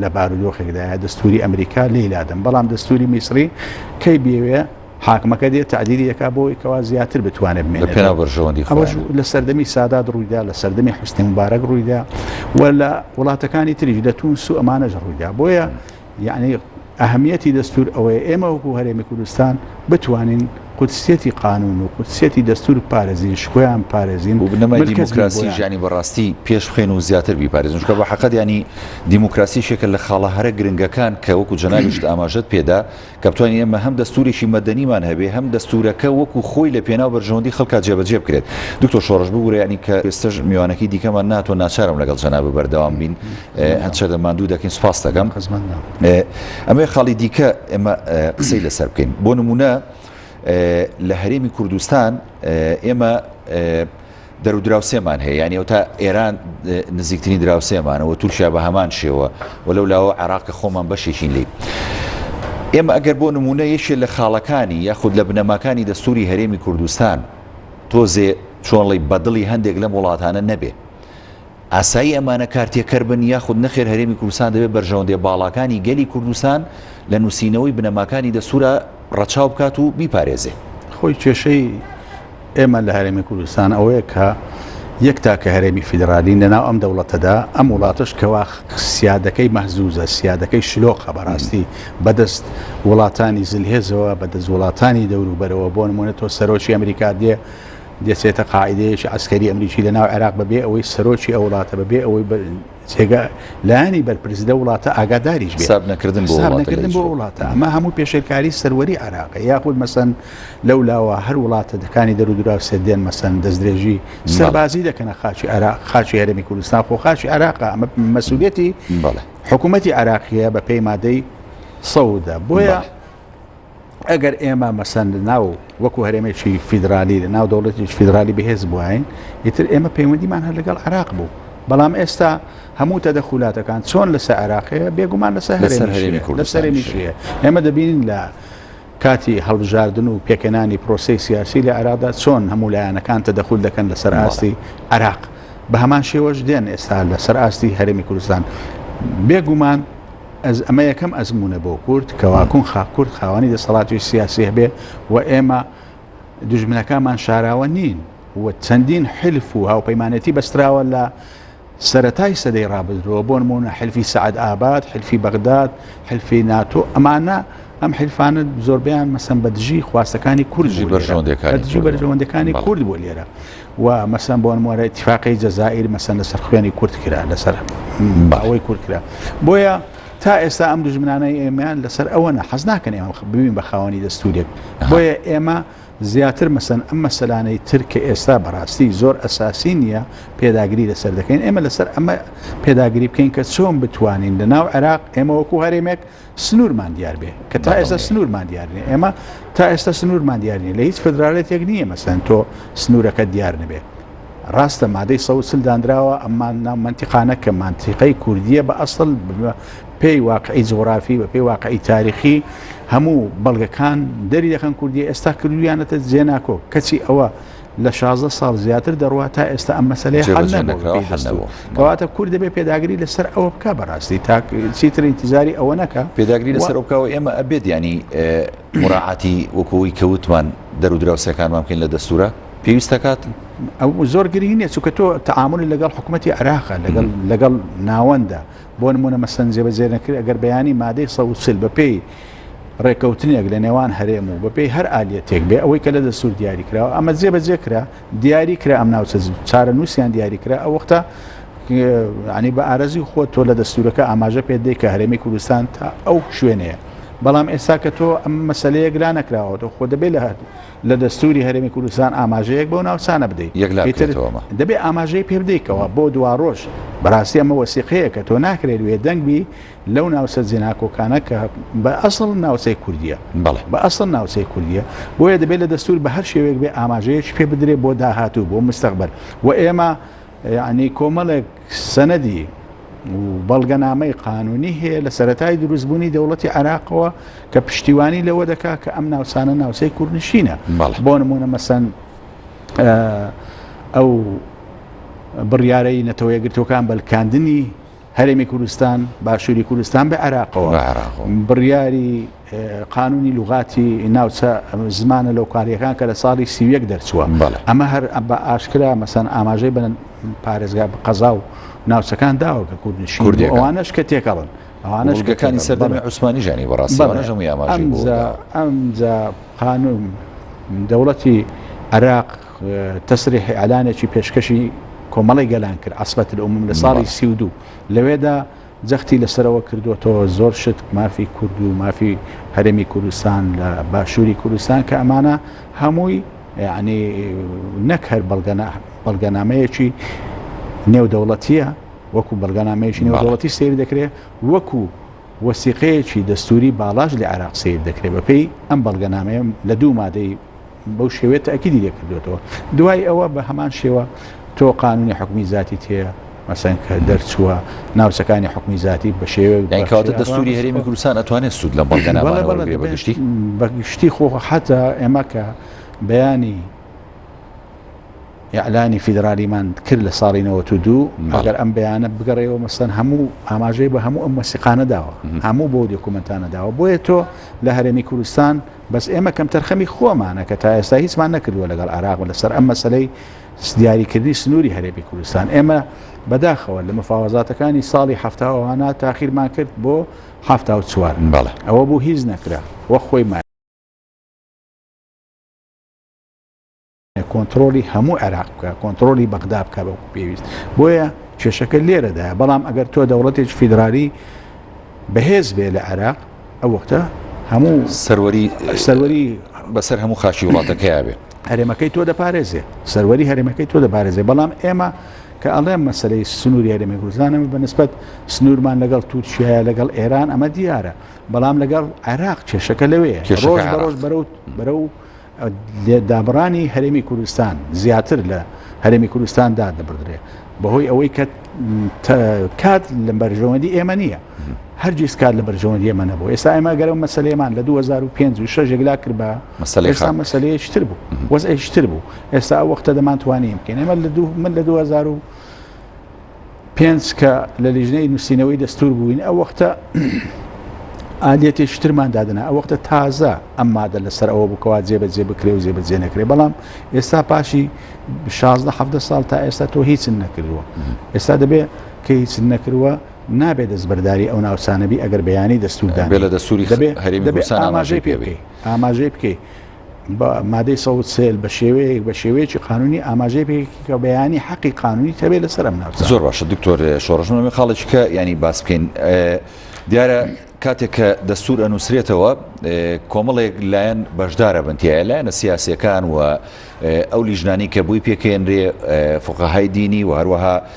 لە بارودۆخێکدایە دەستوری ئەمریکا لێلادەم بەڵام دەستوری میسری کەی بێوێ حاکمەکە دێت تەعدیلی دەکات بۆ ئەوەی کەوا زیاتر بتوانێت بمێنێت. لە پێناو بەرژەوەندی خۆیانە. ئەوەش لە سەردەمی سادات ڕوویدا، لە سەردەمی حوسنی موبارەک ڕوویدا و لە وڵاتەکانی تریش لە تونس و ئەمانەش ڕوویدا. بۆیە یعنی ئەهمیەتی دەستور ئەوەیە ئێمە وەکو هەرێمی کوردستان بتوانین قودسیەتی قانون و قودسیەتی دەستور پارێزین شکۆیان پارێزین و بنەمای ملکەچ دیموکراسی بوویان. ژیانی بەڕاستی پێش بخەین و زیاتر بیپارێزین چونکە بە حەقەت یانی دیموکراسی یەکێکە لە خاڵە هەرە گرنگەکان کە وەکو جەنابیشت ئاماژەت پێدا کە بتوانین ئێمە هەم دەستوورێکی مەدەنیمان هەبێ هەم دەستوورەکە وەکوو خۆی لە پێناو بەرژەوەندی خەڵکا جێبەجێ بکرێت. دکتۆر شۆڕش ببورە یانی کە ئێستەش میوانەکەی دیکەمان ناتوە ناچارم لەگەڵ جەنابت بەردەوام بین هەند شەدە ماندوو دەکەین سوپاست دەکەم. ئەمەوێ خاڵی دیکە ئێمە قسەی لەسەر بکەین بۆ نموونە لە هەرێمی کوردستان ئێمە دەرو دراوسێمان هەیە یانی ئەوتا ئێران نزیکترین دراوسێمانە و تورکیا بە هەمان شێوە و لەو لاوە عراقە خۆمان بەشێکین لی. ئێمە ئەگەر بۆ نمونە یەکێ لە خاڵەکانی یاخود لە بنەماکانی دەستوری هەرێمی کوردستان تۆزێ چۆنڵی بەدڵی هەندێک لەم وڵاتانە نەبێ. ئاسایی ئەمانە کارتێکەر بن یاخود نەخێر هەرێمی کوردستان دەبێت بەرژەوەندیە باڵاکانی گەلی کوردستان لە نوسینەوەی بنەماکانی دەستورا ڕەچاو بکات و بیپارێزێ. خۆی کێشەی ئێمە لە هەرێمی کوردستان ئەوەیە کە یەک تاکە هەرێمی فیدرالین لە ناو ئەم دەوڵەتەدا ئەم وڵاتەش کەوا سیادەکەی مەهزوزە سیادەکەی شلۆقە بەڕاستی بەدەست وڵاتانی زلهێزەوە بەدەست وڵاتانی دەوروبەرەوە بۆ نمونە تۆ سەرۆکی ئەمریکا دێ دەچێتە قاعیدەیەکی عەسکەری ئەمریکی لە ناو عێراق بەبێ ئەوەی سەرۆکی ئەو وڵاتە بەبێ ئەوەی جێگە لایانی بەرپرس لە وڵاتە ئاگاداریش حساب نەکردن بۆ حساب نەکردن بۆ وڵاتە ئەمە هەموو پێشێلکاری سەروەری عراق یاخود مەسەن لەو لاوە هەر وڵاتە دەکانی دەرودرا سێدێن مەسەن دەستدرێژی سەربازی دەکەنە خاچی عراق خاچی هەرمی کوردستان خۆ خاچی عراق ئەمە مەسوولێتی حکوومەتتی عراقیە بە پێی مادەی سەودا بۆیە ئەگەر ئێمە مەسەن ناو وەکو هەرێمێکی فیدرالی لە ناو دەوڵەتی فیدرالی بەهێز بواین ئیتر ئێمە پەیوەندیمان هەر لەگەڵ عراق بوو بەڵام ئێستا هەموو تەدە خولاتەکان چۆن لەسەر عراقەیە بێگومان لەسەر هەرێمیشەیە ئێمە دەبین لە کاتی هەڵبژاردن و پێکەنانی پرۆسی سیاسی لە عرادا چۆن هەموو لایەنەکان تەدەخول دەکەن لەسەر ئاستی عراق بە هەمان شێوەش دێن ئێستا لەسەر ئاستی هەرێمی کوردستان بێگومان ئەز ئەمە یەکەم ئەزموونە بۆ کورد کەوا کونخا کورد خاوەنی دەسەڵاتی سیاسی هەبێ و ئێمە دژمنەکانمان شاراوە نین و چەندین حلف و هاوپەیمانێتی بەستراوە لە سەتای سەدەی ڕابدرەوە بۆ نمونە حلفی سعد ئاباد حلفی بەغداد حلفی ناتۆ ئەمانە ئەم حلفانە زۆربیان مەسم بە دژی خواستەکانی کوردژی بەرژەوەندەکانی کورد بۆ لێرە و مەسەن بۆن موارە اتفاقی جەزائیر مەسەن لەسەر خوێنی کورد کرا لەسەر باوەی کورد کرا بۆیە تا ئێستا ئەم دژمنانەی ئێمەیان لەسەر ئەوە نە حەز ناکەن ئێمە ببین بە خاوەنی دەستورێک بۆیە ئێمە زیاتر مەسەن ئەم مەسەلانەی تر کە ئێستا بەڕاستی زۆر ئەساسی نییە پێداگری لەسەر دەکەین ئێمە لەسەر ئەمە پێداگری بکەین کە چۆن بتوانین لە ناو عێراق ئێمە وەکو هەرێمێک سنوورمان دیار بێ کە تا ئێستا سنوورمان دیار نیە ئێمە تا ئێستا سنوورمان دیار نیە لە هیچ فدرالێتێک نییە مەسەن تۆ سنوورەکە دیار نەبێ ڕاستە مادەی سە سل دانراوە ئەممان ناو منتیقانە کە مانتیقەی کوردیە بە ئەسڵ پێی واقعی جغرافی بە پێی واقعی تاریخی هەموو بەڵگەکان دەری دەکەن کوردی ئێستا کردویانەتە جێناکۆ کەچی ئەوە لە شازدە ساڵ زیاتر دەڕوا تا ئێستا ئەم مەسەلەیە حەل نەبۆوە حەل نەبۆوە کەواتە کورد دەبێ پێداگری لەسەر ئەوە بکە بەڕاستی تاک چیتر ئینتیزاری ئەوە نەکە پێداگری لەسەر ئەو بکەوە ئێمە ئەبێت ینی مراعاتی وەکەوەی کەوتمان دەرو دراوسەکانمان بکەین لە دەستورە پێویست دەکات ئەو زۆر گرنگ نیە چونکە تۆ تعاملی لەگەڵ حکوومەتتی عراقە لەگەڵ لەگەڵ ناوەندە بۆ نموونە مەسەن جێبەجێنەکرێت ئەگەر بەیانی مادەی سەد و چل بەپێی ڕێکەوتنێک لە نێوان هەرێم و بەپێی هەر ئالیەتێک بێ ئەوەی کە لە دەستور دیاری کراوە ئەمە جێبەجێ کرا دیاری کرا ئەم ناوچە چارە نووسیان دیاری کرا ئەو وەختە ینی بە ئارەزی خۆ تۆ لە دەستورەکە ئاماژە پێ دەی کە هەرێمی کوردستان تا ئەو شوێنەیە بەڵام ئێستا کە تۆ ئەم مەسلەیەک لا نەکراوەەوە خۆ دەبێت لە هەردوو لە دەستوری هەرێمی کوردستان ئاماژەیەک بەو ناوچانە بدەی ئیتر دەبێ ئاماژەی پێ بدەیکەوە بۆ دواڕۆژ بەڕاستی ئەمە وەسیقەیە کە تۆ ناکرێت وێ دەنگ بی لەو ناوچە جێناکۆکانە کە بە ئەسڵ ناوچەی کوردیە بە ئەسڵ ناوچەی کوردیە بۆیە دەبێت لە دەستور بە هەر شێوێک بێ ئاماژەیەش پێ بدرێت بۆ داهاتوو بۆ مستەقبل و ئێمە یعنی کۆمەڵێک سەنەدی و بەڵگەنامەی قانونی هەیە لە سەرەتای دروستبوونی دەوڵەتی عراقەوە کە پشتیوانی لەوە دەکا کە ئەم ناوچانە ناوچەی کوردنشینە بۆ نمونە مەسەن ئەو بڕیارەی نەتەوە یەکگرتوەکان بەلکاندنی هەرێمی کوردستان باشووری کوردستان بە عراقەوە بڕیاری قانونی لوغاتی ناوچە زمانە لۆکالیەکان کە لە ساڵی سی و یەک دەرچووە ئەمە هەر بە ئاشکرا مەسەن ئاماژەی بە پارێزگا بە قەزا و ناوچەکان داوە کە کوردنشین ئەوانش کە تێکەڵن ئەوانشگەکانی سەردەمی عوسمانی ژانی بەڕاستی ئەمجا قانون دەوڵەتی عراق تەسری حیالانێکی پێشکەشی کۆمەڵی گەلان کرد ئەسبەت لە عموم لە ساڵی سی و دوو لەوێدا جەختی لەسەرەوە کردۆتەوە زۆر شت مافی کورد و مافی هەرێمی کوردستان لە باشووری کوردستان کە ئەمانە هەمووی یعنی نەک هەر بەڵگەنامەیەکی نێودەوڵەتیە وەکو بەڵگەنامەیەکی نێودەوڵەتی سیر دەکرێت وەکو وەسیقەیەکی دەستوری باڵاش لە عێراق سیر دەکرێت بەپی ئەم بەڵگەنامەیە لە دوو مادەی بەو شێوەیە تەئکیدی لێ کردووەتەوە دوای ئەوە بە هەمان شێوە تۆ قانونی حکومی زیاتیت هەیە مەسەن کە دەرچووە ناوچەکانی حکومی زیاتی بە شێوە داکاتە دەستوری هەرێمی کوردستان ئەتوانێت سوود لە بەڵگەنامەگەشتی بەگشتی خۆ حتا ئێمە کە بەیانی یاعلانی فیدرالیمان کرد لە ساڵی 92 ئەگەر ئەم بەیانە بگەڕێەوە مەسەن هەموو ئاماژەی بە هەموو ئەم مەسیقانە داوە هەموو بۆ دۆکومنتانە داوە بۆیە تۆ لە هەرێمی کوردستان بەس ئێمە کەمتەرخەمی خۆمانە کە تا ئێستا هیچمان نەکردووە لەگەڵ عێراق لەسەر ئەم مەسەلەی دیاریکردنی سنووری هەرێمی کوردستان ئێمە بەداخەوە لە مفاوەزاتەکانی ساڵی هەفتاوانە تاخیرمان کرد بۆ هەفتا و چوار بەڵێ ئەوە بوو هیچ نەکرا وە خۆی کۆنتڕۆڵی هەموو عێراق بکە کۆنتڕۆلی بەغدا بکە بەکو پێویست بۆیە کێشەکە لێرەدایە بەڵام ئەگەر تۆ دەوڵەتێک فیدرالی بەهێز بێ لە عێراق ئەو وەختە هەموو سەروەری سەروەری بەسەر هەموو خاچی وڵاتەکەیا بێت هەرێمەکەی تۆ دەپارێزێ سەروەری هەرێمەکەی تۆ دەپارێزێ بەڵام ئێمە کە ئەڵێم مەسلەی سنووری هەرێمی کوردستانم بە نسبت سنوورمان لەگەڵ تورکیا لەگەڵ ئێران ئەمە دیارە بەڵام لەگەڵ عێراق کێشەکە لەوەیە ڕۆژ بەڕۆژ بەرەوت بەرە و دابڕانی هەرێمی کوردستان زیاتر لە هەرێمی کوردستان دادەبدرێ بەهۆی ئەوەی کە کات لە بەرژەوەندی ئێمە نییە هەرگیز کات لە بەرژەوەندی ئێمە نەبوو ئێستا ئێمە گەرم مەسلەیەمان لە 2005 و شەژێکلا کرد بە ئێستا مەسلەیەشتر بوو وەزئشتر بوو ئێستا وەختە دەمانتوانین بکەین ئێمە لە دوو من لە 2000 پێنج کە لە لیژنەی نووسینەوەی دەستور بووین ئەو وەختە ئالەتێکی ترمان دادنا ئەو وەختە تازە ئەم مادە لەسەر ئەوە بکەوە جێبەجێ بکرێ و جێبەجێ نەکرێ بەڵام ئێستا پاشی 16 ساڵ تا ئێستا تۆ هیچ نەکردووە ئێستا دەبێت کە هیچ نەکردووە نابێت دەستبەرداری ئەو ناوچانەبی ئەگەر بەیانی دەستوردان بێ لە دەستوری دەبێت ئاماژەی پێ بکەیت ئاماژەی بکەیت بە مادەی سەد و سێل بە شێوەیەک بە شێوەیەکی قانونی ئاماژەی پێکی کە بەیانی حەقی قانونی تەبێت لەسەر ئەم ناوچە زۆر باشە دکتۆر شۆڕژ من خاڵێکی کە ینی باس بکەین ئێ، دیارە کاتێک کە دەستور ئەنووسرێتەوە ئێ، کۆمەڵێک لایەن بەشدارە بنتیایە لایەنە سیاسەکان و ئێ، ئەو لیژنانی کە بووی پێکەێنرێ ئێ، فقەهای دینی و هەروەها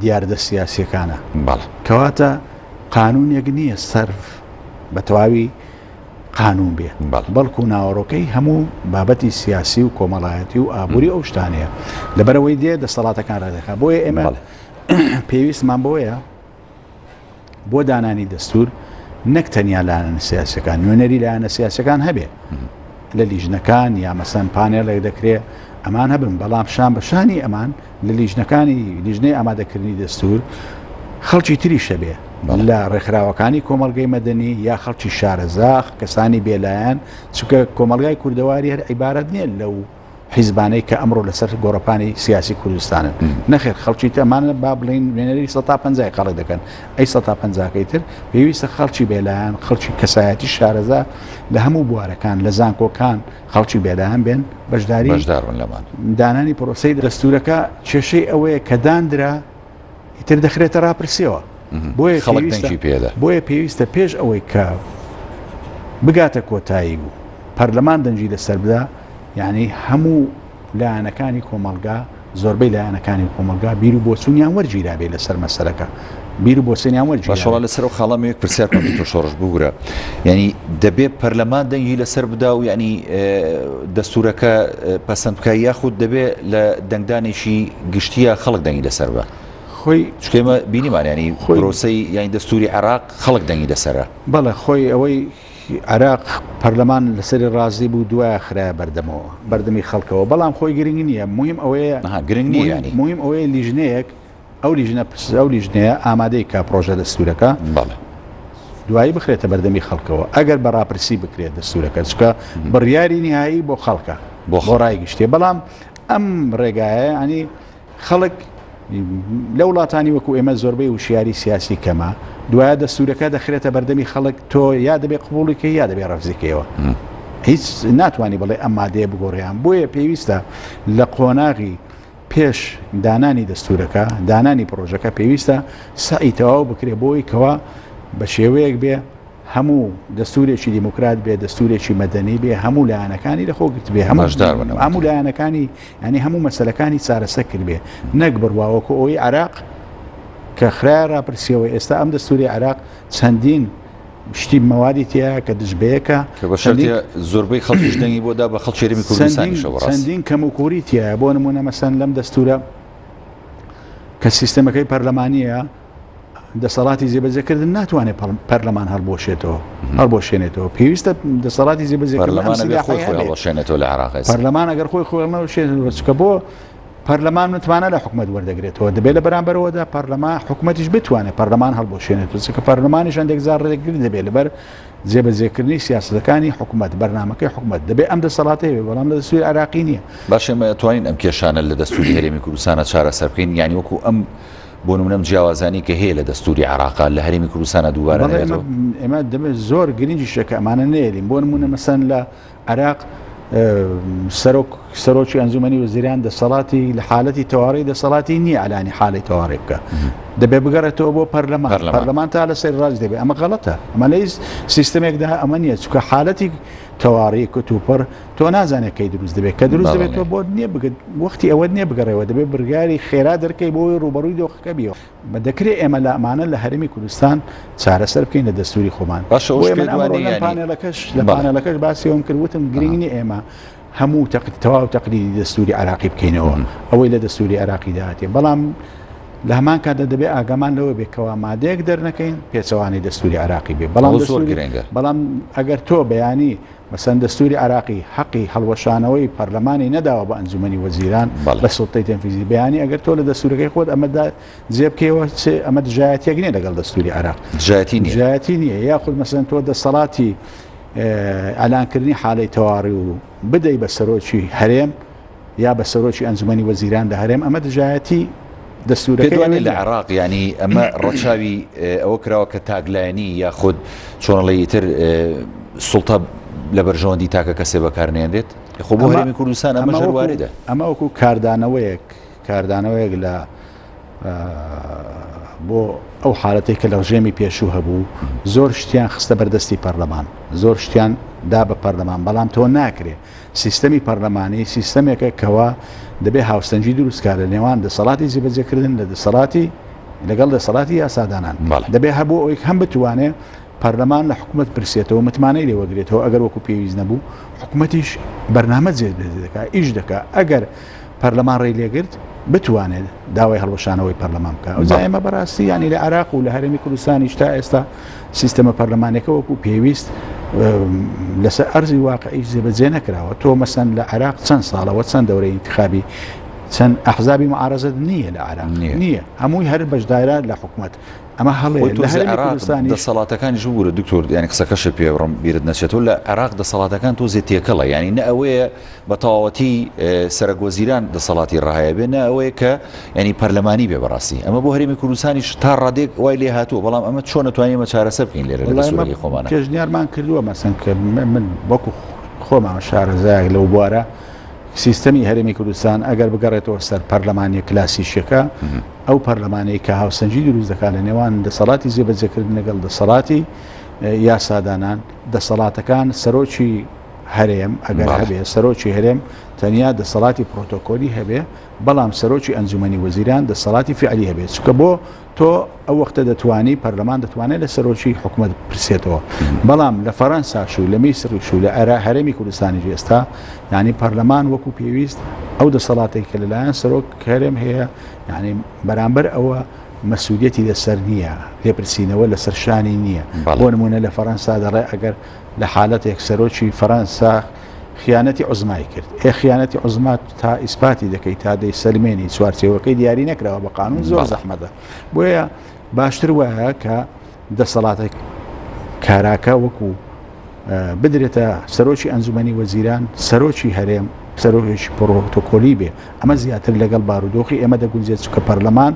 دیاردە سیاسیەکانە. بەڵێ. کەواتە قانونێک نییە سەرف بە تەواوی قانون بێ. بەڵێ. بەڵکو ناوەڕۆکەی هەموو بابەتی سیاسی و کۆمەڵایەتی و ئابووری ئەو شتانەیە. لەبەرئەوەی دێ دەسەڵاتەکان ڕێکدەخا. بۆیە ئێمە بەڵێ. پێویستمان بەوەیە. بۆ دانانی دەستور نەک تەنیا لایەنە سیاسەکان نوێنەری لایەنە سیاسەکان هەبێ لە لیژنەکان یا مەسەن پانێڵێک دەکرێ ئەمان هەبن بەڵام شان بەشانی ئەمان لە لیژنەکانی لیژنەی ئامادەکردنی دەستور خەڵکی تری شەبێ لە ڕێکخراوەکانی کۆمەلگەی مەدەنی یا خەڵکی شارەزاخ کەسانی بێلایەن چکە کۆمەلگای کوردەواری هەر عیبارەت نییە لەو حیزبانەی کە ئەمڕۆ لەسەر گۆڕەپانی سیاسی کوردستانن نەخێر خەڵکی تەمانە با بڵین وێنەری 150 قەڵی دەکەن ئەی 150کەی تر پێویستە خەڵکی بێلایەن خەڵکی کەسایەتی شارەزا لە هەموو بوارەکان لە زانکۆکان خەڵکی بێلایەن بێن بەشداری بەشدارن لەمان دانانی پرۆسی دەستورەکە کێشەی ئەوەیە کە داندرا ئیتر دەخرێتە راپرسیەوە بۆیە خەڵکی پێدا بۆیە پێویستە پێش ئەوەی کە بگاتە کۆتایی و پەرلەمان دەنجی لەسەر بدا یعنی هەموو لایەنەکانی کۆمەلگا زۆربەی لایەنەکانی کۆمەلگا بیر و بۆچوونیان وەرگیرابێ لەسەر مەسەرەکە بیر و بۆچێنیان وەرگیشەڵ لەسەر و خاڵەمێک پرسیار تۆ شۆڕش بگرە ینی دەبێ پەرلەمان دەنگی لەسەر بدا و ینی دەستورەکە پەسەند بکە یاخود دەبێ لە دەنگدانێکی گشتیە خەڵک دەنگی لەسەر بە خۆی چکێمە بینیمان ینی خۆرۆسەی یانی دەستوری عراق خەڵک دەنگی لەسرە بەڵێ خۆی ئەوەی عراق پەرلەمان لەسەری ڕازی بوو دوایە خراە بەردەمەوە بەردەمی خەڵکەوە بەڵام خۆی گرنگ نییە مهم ئەوەیە گرنگ نییە مهم ئەوەیە لیژنەیەک ئەو لیژنە پرسە ئەو لیژنەیە ئامادەی کا پرۆژە لە سوورەکە بەڵێ دوایی بخرێتە بەردەمی خەڵکەوە ئەگەر بە ڕاپرسی بکرێت دەستورەکە چکە بڕیاری نهایی بۆ خەڵکە بۆ خۆڕای گشتێ بەڵام ئەم ڕێگایە ینی خەڵک لە وڵاتانی وەکو ئێمە زۆربەی وشیاری سیاسی کەمە دوایە دەستورەکە دەخرێتە بەردەمی خەڵک تۆ یا دەبێ قوبوڵیکە یا دەبێ ڕفزیکەوە هیچ ناتوانانی بڵێ ئەم مادەیە بگۆڕیان بۆیە پێویستە لە قۆناغی پێش دانانی دەستورەکە دانانی پرۆژەکە پێویستە سعی تەواو بکرێ بۆی کەوا بە شێوەیەک بێ هەموو دەستورێکی دیموکرات بێ دەستورێکی مەدەنی بێ هەموو لایەنەکانی لەخۆ گرت بێ هەموو لایەنەکانی ینی هەموو مەسلەکانی چارەسە کرد بێ نەک بڕواوەکو ئەوەی عراق کە خراە راپرسیەوە ئێستا ئەم دەستوری عراق چەندین شتی مەوادی تیا کە دژبەیەکە زۆربەی خەڵکیش دەنگی بۆدا بە خەڵکێرمی کوردستانیشەوەڕاندین کەم و کوری تایە بۆ نمونە مەسەن لەم دەستورە کە سیستەمەکەی پەرلەمانیە دەسەڵاتی جێبەجێکردن ناتوانێت پەرلەمان هەڵبۆشێتەوە هەڵبۆشێنێتەوە پێویستە دەسەڵاتی جێبەجێکردنێتەوە لە عراق پەرلەمان ئەگەر خۆی خۆڵمەوە شێنەوەچکە بۆ پەرلەمان متمانە لە حکومت وەردەگرێتەوە دەبێت لە بەرامبەرەوەدا پەرلەما حکوومەتیش بتوانێت پەرلەمان هەڵبۆشێنێت کە پەرلەمانیش هەندێک زار ڕێگرن دەبێت لەبەر جێبەجێکردنی سیاستەکانی حکوومەت بەرنمەکەی حکوومەت دەبێت ئەم دەسەڵاتی بێ بەڵام لە دەسوی عراقی نییە باشێمە توانین ئەم کێشانە لە دەستوری هەرێمی کوردستانە چارەسەر بکەین یانی وەکو ئەم بۆ نمونە ئەم جیاوازانەی کە هەیە لە دەستوری عێراق لە هەرێمی کوردستانە دووبارە بەڵێ نەبێتەوە ئێمە- ئێمە دەبێت زۆر گرنگی شەکە ئەمانە نێرین بۆ نمونە مەسەن لە عێراق ئە، سەرۆک سەرۆکی ئەنجومەنی وەزیران دەسەڵاتی لە حالەتی تەواڕی دەسەڵاتی نییە ئەلانی حالی تەواڕی بکە دەبێ بگەڕێتەوە بۆ پەرلەمان پەرلەمان. پەرلەمان تا لە سەر ڕاست دەبێ ئەمە غەڵەتە ئەمە لەیس سیستمێکدا ئەمە نییە چکە حالەتی تەواڕی کتوپڕ تۆ نازانێت کەی دروست دەبێت کە دروست دەبێت تۆ بۆت نییە بگەت وەختی ئەوەت نییە بگەڕێەوە دەبێت برگاری خێرا دەرکەی بۆی ڕوبەڕووی دۆخەکە بیەوە بە دەکرێت ئێمە لە ئەمانە لە هەرمی کوردستان چارەسەر بکەین لە دەستوری خۆمان پانێلەکەش لە پانێلەکەش باسیەوەم کرد وتم گرنگی ئێمە هەموو تەقت تەواو تەقلی دەستوری عراقی بکەینەوە ئەوەی لە دەستوری عراقی دااتێ بەڵام لە هەمان کاتدا دەبێت ئاگامان لەوە بێکەوە مادەیەک دەرنەکەین پێچەوانی دەستوری عراقی بێ بەڵام زۆر گرنگە بەڵام ئەگەر تۆ بەیانی مەسەن دەستوری عێراقی هەقی هەڵوەشانەوەی پەرلەمانی نەداوە بە ئەنجومەنی وەزیران بە سوڵتەی تەنفیزی بەیانی ئەگەر تۆ لە دەستورەکەی خۆت ئەمە دا جێ بکەیەوە چێ ئەمە دژایەتیەک نیە لەگەڵ دەستوری عێراق دژایەتی دژایەتی نیە یاخود مەسەن تۆ دەسەڵاتی ئەلانکردنی حالەی تەواڕی و بدەی بە سەرۆکی هەرێم یا بە سەرۆکی ئەنجومەنی وەزیران لە هەرێم ئەمە دژایەتی دەستورەکەی پێت وانیە لە نیە. عێراق یانی ئەمە ڕەچاوی ئەوە کراوە کە تاکلایەنی یاخود چۆن ئەڵێی ئیتر سوڵتە لە بەرژەوەندی تاکە کەسێ بەکار نێنرێت؟ خۆ بۆ هەرێمی کوردستان ئەمەش هەر واردە. ئەمە وەکو کاردانەوەیەک. کاردانەوەیەک لە بۆ ئەو حالەتی کە لە ڕژێمی پێشوو هەبوو زۆر شتیان خستە بەردەستی پەرلەمان زۆر شتیان دا بە پەرلەمان بەڵام تۆ ناکرێت سیستەمی پەرلەمانی سیستەمێکە کەەوە دەبێ هاوسەنجی دروستکە لە نێوان دەسەڵاتی زیبەجێکردن لە دەسەڵاتی لەگەڵ دەسەڵاتی یاسادانان دەبێ هەبوو ئەوی هەم بتوانێت پەرلەمان لە حکوومەت پرسێتەوە متمانەی لێوەگرێتەوە ئەگەر وەکو پێویست نەبوو حکوومەتیش بەرنامە جێ دەکات ئیش دەکات ئەگەر پەرلەمان ڕێی لێگرت بتوانێت داوای هەڵوەشانەوەی پەرلەمان بکە ئەو جایمە بەڕاستی ینی لە عراق و لە هەرێمی کوردستانیش تا ئێستا سیستەمە پەرلەمانەکە وەکو پێویست لەسەر ئەرزی واقعیش جێبەجێ نەکراوە تۆ مەسەن لە عراق چەند ساڵەوە چەند دەورەی انتخابی چەند ئەحزابی معارزت نییە لە عراق نییە هەمووی هەر بەشدارە لە حکوومەت ئەمە هەڵێ دەسەڵاتەکانی ژبوورە دکتۆر یانی قسەکەش پێبڕم بیرت نەچێتەوە لە عراق دەسەڵاتەکان تۆزێ تێکەڵە ینی نە ئەوەیە بە تەواوەتی سەرەک وەزیران دەسەڵاتی ڕاهەیە بێ نە ئەوەیە کە ینی پەرلەمانی بێ بەڕاستی ئەمە بۆ هەرێمی کوردستانیش تا ڕادێک وای لێ هاتووە بەڵام ئەمە چۆن نتوانین مە چارەسە بکەین لێرە لەسوەری خۆمان پێشنیارمان کردووە مەسن کە من وەکو خۆمان شارەزایەک لەو بوارە سیستەمی هەرێمی کوردستان ئەگەر بگەڕێتەوە سەر پەرلەمانی کلاسیشەکە ئەو پەرلەمانی کە هاوسەنجی دروست دەکات لە نێوان دەسەڵاتی زیێبەجێکردن لەگەڵ دەسەڵاتی یاسادانان دەسەڵاتەکان سەرۆکی هەرێم ئەگەر هەبێ سەرۆکی هەرێم تەنیا دەسەڵاتی پرۆتۆکۆلی هەبێ بەڵام سەرۆکی ئەنجومەنی وەزیران دەسەڵاتی فعلی هەبێت چکە بۆ تۆ ئەو وەختە دەتوانی پەرلەمان دەتوانێت لە سەرۆکی حکوومەت پرسێتەوە بەڵام لە فەرەنساش و لە میسری شو لە ئەرا هەرێمی کوردستانی ئێستا ینی پەرلەمان وەکو پێویست ئەو دەسەڵاتی کە لەلایەن سەرۆک هەرێم هەیە یعنی بەرامبەر ئەوە مەسوودەتی لەسەر نییە لێپرسینەوە لەسەر شانی نییە بۆ نمونە لە فەرەنسا دەڵێ ئەگەر لە حالەتێک سەرۆکی فەرەنسا خیانەتی عوزمای کرد ئێ خیانەتی عوزما تا ئیسپاتی دەکەی تا دەی سەلمێنی چوارچێوەکەی دیاری نەکراوە بە قانون زۆر زەحمەتە بۆیە باشتر وایە کە دەسەڵاتێک کاراکە وەکو بدرێتە سەرۆکی ئەنجومی وەزیران سەرۆکی هەرێم سەرۆکی پرۆتۆکۆلی بێ ئەمە زیاتر لەگەڵ بارودۆخی ئێمە دەگونجێت چکە پەرلەمان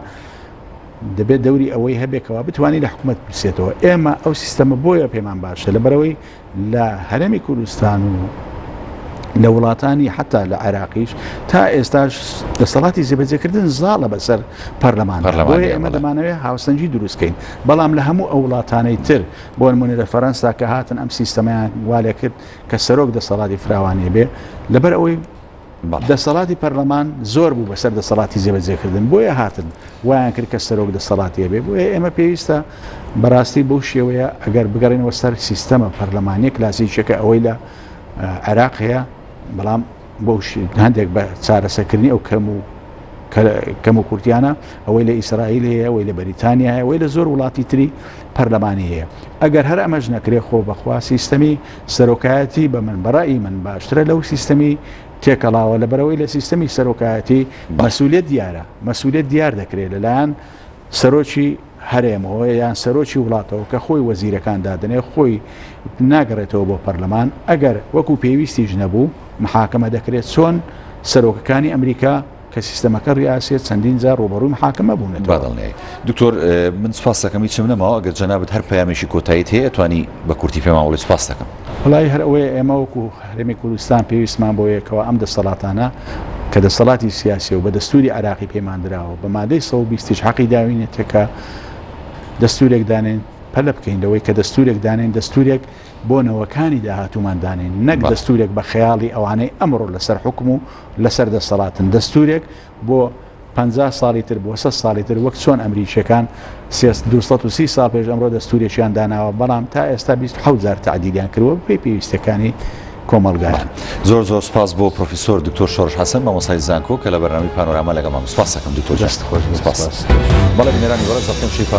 دەبێت دەوری ئەوەی هەبێ کەوا بتوانانی لە حکوومەت پرسێتەوە ئێمە ئەو سیستەمە بۆیە پێمان باشە لە بەرەوەی لە هەرمی کوردستان و لە وڵاتانی حتا لە عێراقیش تا ئێستاش دەسەڵاتی زیبەجێکردن زاڵە بەسەر پەرلەمان ئەمە دەمانەوێت هاوسەنجی دروستکەین بەڵام لە هەموو ئەو وڵاتانەی تر بۆ نمونە لە فەرەنسا کە هاتن ئەم سیستەمیان والێ کرد کە سەرۆک دەسەڵاتی فراوانێ بێ لەبەر ئەوەی دەسەڵاتی پەرلەمان زۆر بوو بەسەر دەسەڵاتی جێبەجێکردن بۆیە هاتن وایان کرد کە سەرۆک دەسەڵاتی هەبێ بۆیە ئێمە پێویستە بەڕاستی بەو شێوەیە ئەگەر بگەڕێنەوە سەر سیستەمە پەرلەمانە کلاسیکیەکە ئەوەی لە عێراق هەیە بەڵام بۆ هەندێک بە چارەسەکردنی ئەو کەم و کەم و کورتیانە ئەوەی لە ئیسرائیل هەیە ئەوەی لە بەریتانیا هەیە ئەوەی لە زۆر وڵاتی تری پەرلەمانی هەیە ئەگەر هەر ئەمەش نەکرێ خۆ بەخوا سیستەمی سەرۆکایەتی بە من بەڕای من باشترە لەو سیستەمی تێکەڵاوە لە بەرەوەی لە سیستەمی سەرۆکایەتی مەسوولێت دیارە مەسوولێت دیار دەکرێت لەلایەن سەرۆکی هەرێمەوە یان سەرۆکی وڵاتەوە کە خۆی وەزیرەکان دادنێ خۆی ناگەڕێتەوە بۆ پەرلەمان ئەگەر وەکو پێویستیش نەبوو محاکەمە دەکرێت چۆن سەرۆکەکانی ئەمریکا کە سیستەمەکە ریاسێت چەندین جار ڕوبەڕوی محاکمە بوونێت بادڵنیایی دکتۆر من سپاس دەکەم هیچم نەماوە ئەگەر جەنابەت هەر پامێکی کۆتاییت هەیە توانی بە کورتی پێماوەڵی سپاس دەکەم وڵی هەر ئەوەیە ئێمە وەکو هەرێمی کوردستان پێویستمان بۆ یەکەوە ئەم دەسەڵاتانە کە دەسەڵاتی سیاسی و بە دەستوری عراقی پەیماندراوە بە مادەی 120 حەقی داوینێتەکە دەستورێک دانێن پەلە بکەین لەوەی کە دەستورێک دانێن دەستورێک بۆ نەوەکانی داهاتومان دانێن نەک دەستورێک بە خەیاڵی ئەوانەی ئەمڕۆ لەسەر حکم و لەسەر دەسەڵاتن دەستورێک بۆ پ ساڵی تر بۆ سە ساڵی تر وەک چۆن ئەمریکیەکان 230 سا پێش ئەمڕۆ دەستوریان داناوە بەڵام تا ئێستا 20هزار تعدیلیان کردوە پێی پێویستەکانی کۆمەلگایان زۆر زۆر سپاس بۆ پرۆفیسۆر دکتۆر شۆرش حەسەن مامۆسای زانکۆ کە لە بەرنامی پانۆراما لەگەڵمان سپاسەکەم دکتۆر جست خۆش بەڵێ بنێرانی بەڕێز دەکەم شیفا